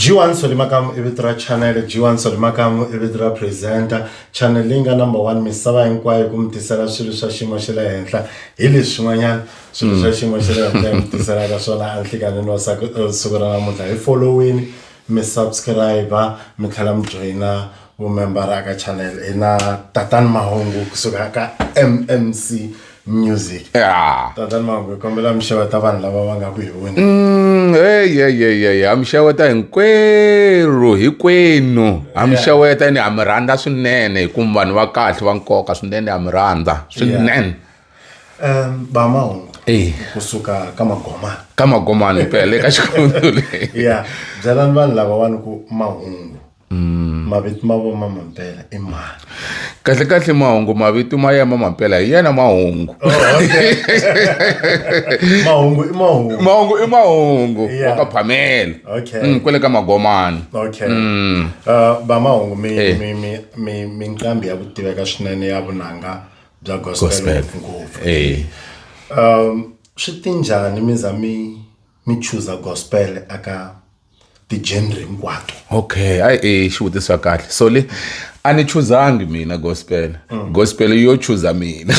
G1 Solimakamu i vito ra channel G1 Solimakamu i vito ra presenter channel leyi nga number 1 misava hinkwayo ku mi tisela swilo swa xiyimo xa le henhla hi leswi swin'wanyana swilo swa xiyimo xa le henhla mi tiselaka swona a nhlikanini wa siku ra namuntlha hi followini mi subscribe mi tlhela mi joyina mumembara aka channel hi na tatani mahungu kusuka ka mmc music ya tatani mahungu hi kombela mi xeweta vanhu lava va nga ku hi wini Mm, hey, hey, hey, hey. ha mi xeweta hinkwerhu hikwenu ha mi xeweta ni ha mi rhandza swinene hikuva vanhu va kahle va nkoka swinene ha mi rhandza swinene um ba mahungu Eh. kusuka ka magomana ka magomani phela le ka xikhumulu ya byelani vanhu lavawani ku mahungu mm. mavito ma vo ma mampela i mani kahle kahle mahungu mavito ma ya ma mampela hi yena mahungu oh, mahungu i mahungu mahungu i mahungu wa ka phamela mm, kwele ka magomani mm. uh, va mahungu mi eh. mi mi mi mi nqambi ya ku tiveka swinene ya vunanga bya gospel ngopfu eh. um swi tinjhani mi za mi mi chuza gospel aka ti-genre hinkwato okay ai e xivutiso xa kahle so le a ni chuzangi mina gospel mm. gospel yo chuza mina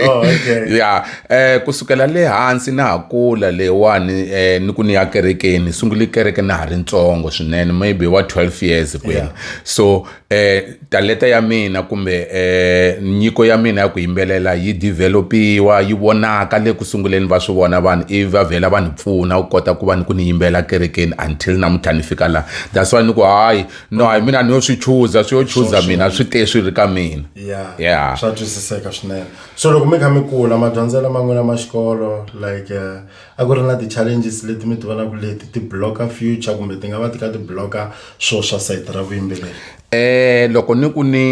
oh, okay. ya eh kusukela le hansi na ha kula lewani eh ni ku ni ya kerekeni sunguli kereke na ha ri ntsongo swinene maybe wa 12 years kwena yeah. so eh talenta ya mina kumbe eh nyiko ya mina ya ku yimbelela yi develop-iwa yi vonaka le ku sunguleni va swi vona vanhu ivi va vhela va ni pfuna u kota ku va ni ku ni yimbela kerekeni until namuntlha ni fika laha that's why ni ku hayi no hayi mina ni yo swi chuza swi yo chuza mina swi te swi ri ka mina ya swa twisiseka swinene so loko mi kha mi kula madyondzela man'wina ma xikolo like eh, a ku ri na ti-challenges leti mi ti vonaka leti ti block-a future kumbe ti nga va ti kha ti block-a swilo swa sayiti ra vuyimbeleri um loko ni ku ni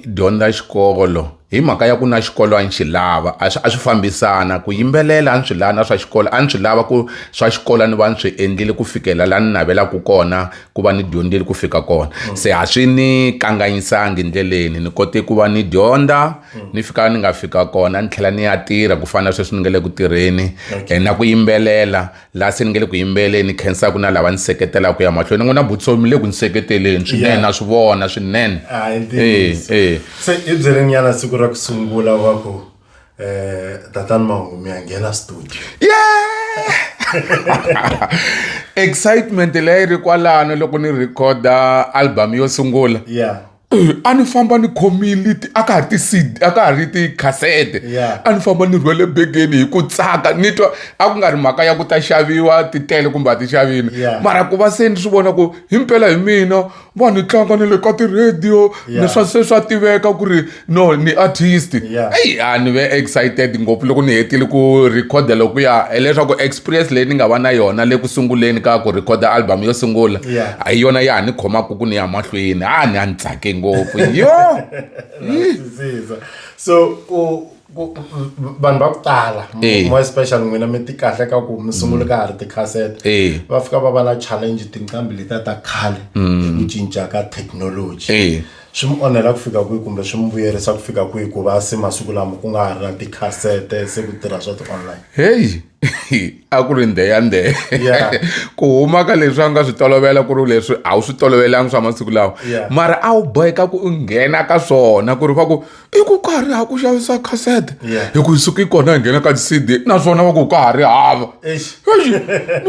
dyondza xikolo hi mhaka ya ku na xikolo a ni xi lava a swi a swi fambisana ku yimbelela a ni swi lava na swa xikolo a ni swi lava ku swa xikolo ni va ni swi endlile ku fikela laha ni navelaka kona ku va ni dyondzile ku fika kona se a swi ni kanganyisangi ndleleni ni kote ku va ni dyondza mm. ni fika ni nga fika kona ni tlhela ni ya tirha ku fana sweswi ni nga le ku tirheni okay. Eh, na ku yimbelela laha se ni nga le ku yimbeleni khensaka na lava ni seketelaka ya mahlweni ni n'wi na butsomi mi le ku ni seketeleni swinene yeah. na swi vona swinene ah, eh, eh. se i byerinyana siku ra ku sungula wa ku um eh, tatani mahumi ya nghena studio yeah! excitement leyi ri kwalano loko ni rhekhoda album yo sungula yeah. a ni famba ni khomile a ka ha ri ti-cd a ka ha ri tikhasete a ni famba ni rhwele begeni hi ku tsaka ni twa a ku nga ri mhaka ya ku ta xaviwa ti tele kumbe a ti xavini mara ku va se ni swi vona ku hi mpela hi mina va ni tlanga ni le ka ti-radio ni swa se swa tiveka ku ri no ni artist eyi a ni ve excited ngopfu loko ni hetile ku rhikhoda loko ya hileswaku experience leyi ni nga va na yona le ku sunguleni ka ku rhikhoda album yo sungula hi yona ya ha ni khomaka ku ni ya mahlweni a ni a ni tsake ngopfu yo so vanhu va ku tala eh. more special n'wina mi ti kahle ka ku mi sungule ka ha ri tikhasete eh. va fika va va na challenge tinqambi letiya ta khale hi mm. ku cinca ka thekinoloji eh. swi mi onhela ku fika kwihi kumbe swi mi vuyerisa ku fika kwihi ku va se masiku lama ku nga ha ri na tikhasete se ku tirha swa ti-online heyi a ku ri ndhe ya ndhe ku huma ka leswi a nga swi tolovela ku ri leswi a wu swi tolovelanga swa masiku lawa mara a wu boheka ku nghena ka swona ku ri va ku i ku ka ha ri ha ku xavisa kasete hi ku suka yi kona hi nghena ka ti-cd naswona va ku ka ha ri hava ni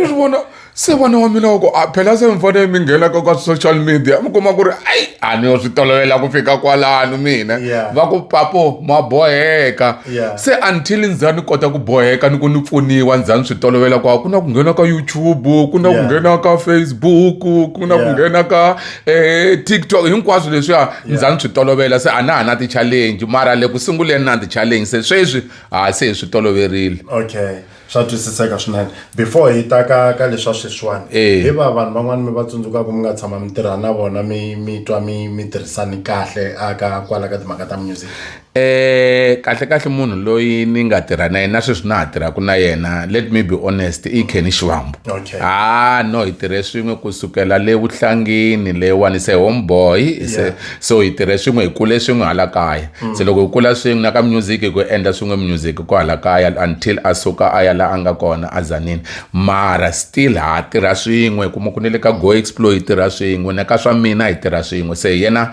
swi vona se vana wa mina wa ku a phela se mi fanele mi nghenaka ka social media mi kuma ku ri ayi a ni yo swi tolovela ku fika kwalano mina va ku papo ma boheka Yeah. se until ni za ni kota ku boheka ni ku ni pfuniwa ni za ni swi tolovela ku a ku na ku nghena ka youtube ku na ku Yeah. nghena ka facebook ku na ku Yeah. nghena ka eh, tiktok hinkwaswo leswiya ni za ni swi tolovela se a na ha na ti-challenge mara le ku sunguleni na ti-challenge se sweswi ha se hi swi toloverile okay swa twisiseka swinene before hi ta ka ka leswa sweswiwani eh. hi va vanhu van'wani mi va tsundzukaka mi nga tshama mi tirha na vona mi mi twa mi mi tirhisani kahle aka kwala ka timhaka ta music eh kahle kahle munhu loyi ni nga tirha na yena sweswi na ha tirhaka na yena let me be honest i kenny xivambo okay. ah no hi tirhe swin'we kusukela le vuhlangini leyiwani se homeboy yeah. so hi tirhe swin'we hi kule swin'we hala kaya mm. se loko hi kula swin'we na ka music hi ku endla swin'we music ko hala kaya until a suka a ya la a nga kona a zanini mara still ha tirha swin'we kuma ku ne le ka go explore hi tirha swin'we na ka swa mina hi tirha swin'we se yena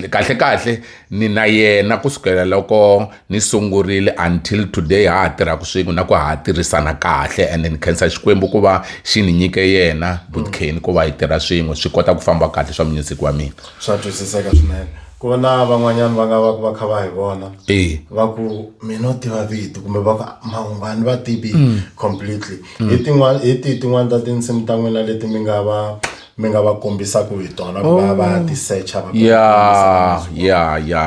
kahle kahle ni na yena ku sukela loko ni sungurile until today ha ha tirhaka swin'we na ku ha tirhisana kahle and ni khensa xikwembu ku va xi ni nyike yena butkeni mm. ku va hi tirha swin'we swi kota ku famba kahle swa music wa mina swa twisiseka swinene ku va na van'wanyana va nga va ku va kha va hi vona va ku mi no tiva vito kumbe va ku mahungu a ni va tivi mm. completely mm. hi tin'wana hi tihi tin'wana ta tinsimu ta n'wina leti mi nga va mi nga va kombisaka hi tona ku va va oh. tisecha va ya ya ya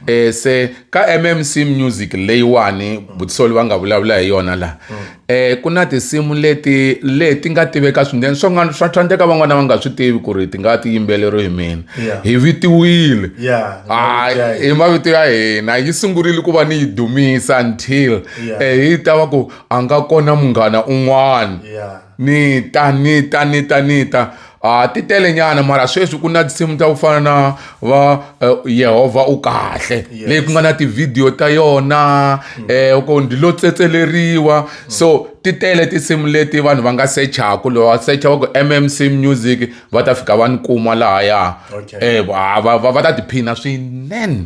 um se ka mmc music leyiwani butisoli va nga vulavula hi yona laha mm. um ku na tinsimu leti leti nga tiveka swinene swa nga swa swa ndeka van'wana va nga swi tivi ku ri ti nga ti yimbeleriwe hi mina Yeah. hi vitiwile Yeah, Hayi, yeah. hi mavito ya hina yi sungurile ku va ni yi dumisa until Yeah. eh, yi ta va ku a nga kona munghana un'wana Yeah. ni ta ni ta ni ta ni ta a ti telenyana mara sweswi ku na tinsimu ta ku fana na va eh, yehovha u kahle leyi ku nga na tivhidiyo ta yona um eh, ku ndi lo tsetseleriwa so ti tele tinsimu leti vanhu va nga sechaku loyi wa secha va ku mmc music va ta fika va ni kuma laha ya um va ta tiphina swinene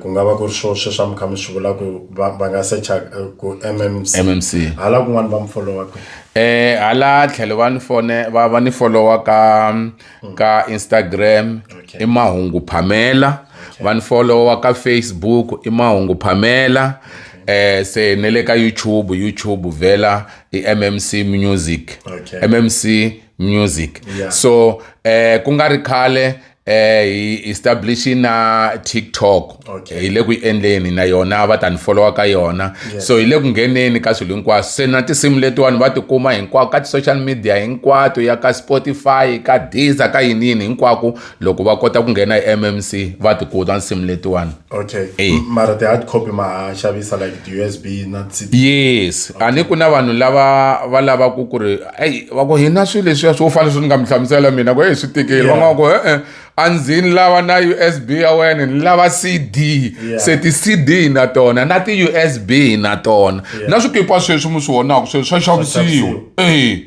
ku nga va ku ri swo sweswi a mi kha mi swi vula ku va va nga secha ku mmc mmc hala kun'wana va mi folowa kwihi eh hala tlhelo va ni fone va va ni folowa ka ka instagram i mahungu phamela va ni folowa ka facebook i mahungu phamela eh se ne le ka youtube youtube vhela i mmc music mmc music yeah. so eh ku nga ri khale eh hi establish na TikTok okay. hi le ku endleni na yona va ta ni followa ka yona yes. so hi le ku ngheneni ka swilo hinkwaswo se na tinsimu letiwani va tikuma hinkwako ka ti-social media hinkwato ya ka Spotify ka Deezer ka yini yini hinkwako loko va kota ku nghena hi mmc va tikuta nsimu letiwani okay e. mara ti-hard copy ma xavisa like ti-usb na yes okay. a ni ku na vanhu lava va lavaku ku ri eyi va ku hina swilo leswiya swo fana swi ni nga mi hlamusela mina ku eyi swi tikeli van'wana ku e-e a ndzi ni lava na usb ya wena ni lava cd yeah. se ti-cd na tona na ti-usb na tona yeah. na swikipa sweswi mi swi vonaka sweswi swa xavisiwa e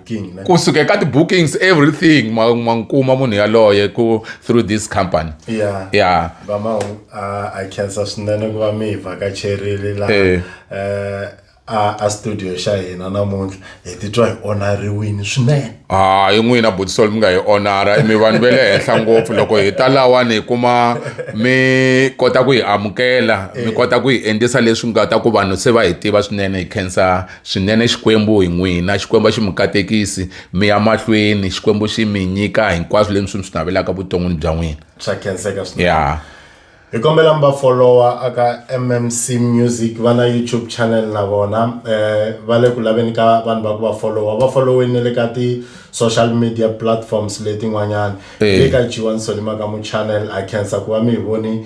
kusuka eka ti-bookings everything ma n'wi kuma munhu yaloye ku through this company ya ya vamahu a khensa swinene ku va mi hi vhakacherile laha eh. eh, a studio xa hina namuntlha hi titwa hi onariwini swinene hayi ah, n'wina butisol mi nga hi onara mi vanhu ve le henhla ngopfu loko hi ta lawani hi kuma mi kota ku hi amukela mi eh. kota ku hi endlisa leswi nga ta ku vanhu se va hi tiva swinene hi khensa Swinene Xikwembu hi n'wina, Xikwembu a xi mi katekisi, mi ya mahlweni, Xikwembu xi mi nyika hinkwaswo leswi mi swi navelaka vuton'wini bya n'wina. Swa khenseka swinene. Yeah. Hi kombela mi va follower aka MMC Music va na YouTube channel na vona eh va le ku laveni ka vanhu va ku va follower va followeni ne le ka ti social media platforms letin'wanyana Eh. le ka Jiwansoni Makamu channel ha khensa ku va mi hi voni